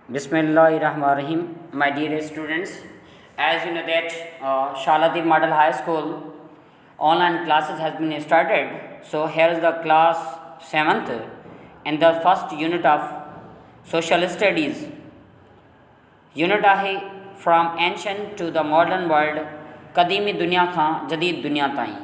بسم الله الرحمن الرحيم my dear students as you know that Shala Devi model high school online classes has been started so here is the class seventh in the first unit of social studies unit آهي from ancient to the modern world قديمي دنيا کان جديد دنيا تائين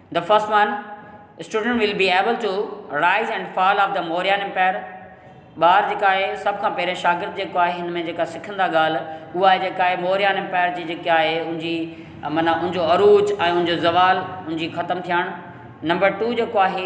The first one, Students will be able to rise and fall of the Mauryan Empire. ٻار جيڪا آهي سڀ کان پهرين شاگرد جيڪو آهي هن ۾ جيڪا سکندا ڳالهه اها آهي جيڪا آهي موريان امپائر جي جيڪا آهي ان جي معنيٰ ان جو عروج ۽ ان جو زوال ان جي ختم ٿيڻ نمبر ٽو جيڪو آهي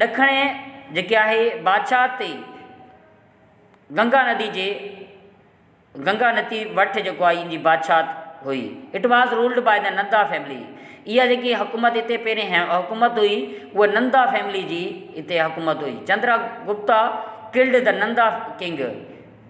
ڏکڻ جيڪي آهي بادشاهت تي گنگا ندي جي گنگا نتي وٺ جيڪو آهي ان جي بادشاهت هئي it was ruled by the Nanda family اها جيڪي حڪومت هتي پهرين حڪومت هئي اها نندا فيملي جي هتي حڪومت هئي Chandra Gupta called the Nanda king.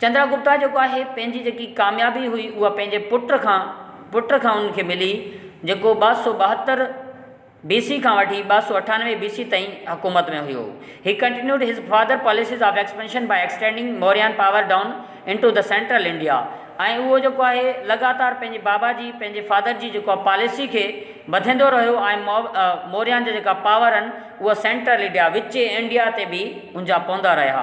Chandra Gupta جيڪو آهي پنهنجي جيڪي ڪاميابي هئي اها پنهنجي پٽ کان پٽ کان ان کي ملي جيڪو ٻه سؤ ٻاهتر بي سي کان وٺي ٻه سؤ اٺانوي بي سي تائين حڪومت ۾ هيو he continued his father policies of expansion by extending Mauryan power down into the central India ۽ اهو جيڪو آهي لڳاتار پنهنجي بابا جي پنهنجي فادر جي جيڪو آهي پاليسي کي وڌيندو رهيو ۽ موريان جا جيڪا پاور آهن اها سينٽرل انڊيا وچي انڊيا تي به ان جا پوندا رهيا.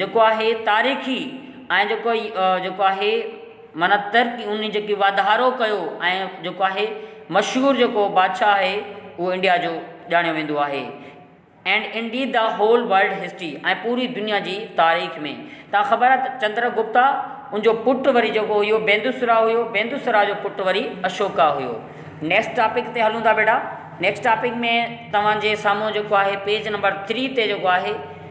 جيڪو آهي تاريخي ۽ جيڪو جيڪو آهي معنيٰ ترقي ان جي جيڪي واڌارو ڪيو ۽ جيڪو آهي مشهور جيڪو بادشاهه آهي اهو انڊيا جو ڄاڻيو ويندو آهي and India the whole world history ۽ پوري دنيا جي تاريخ ۾ تان خبر آهي ته چندر گپتا ان جو پٽ وري جيڪو هيو بيندوسرا هيو بيندوسرا جو پٽ وري اشوڪا هيو نيڪسٽ ٽاپڪ تي هلون ٿا بيٽا نيڪسٽ ٽاپڪ ۾ توهان جي سامهون جيڪو آهي پيج نمبر ٿري تي جيڪو آهي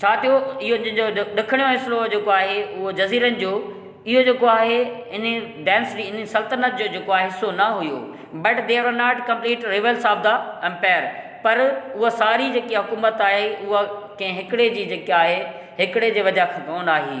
ڇا ٿيو اهو جو ڏکڻ جو حصو جيڪو آهي اهو جزيرن جو اهو جيڪو آهي ان ڊينسٽي ان سلطنت جو جيڪو آهي حصو نه هيو but they are not complete rivals of the empire پر اها ساري جيڪي حڪومت آهي اها ڪنهن هڪڙي جي جيڪي آهي هڪڙي جي وجهه کان ڪونه آهي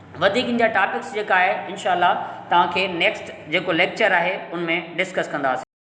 وڌيڪ ان جا ٽاپڪس جيڪا آهي انشاء الله توهان کي نيڪسٽ جيڪو ليڪچر آهي ان ۾ ڊسڪس ڪنداسين.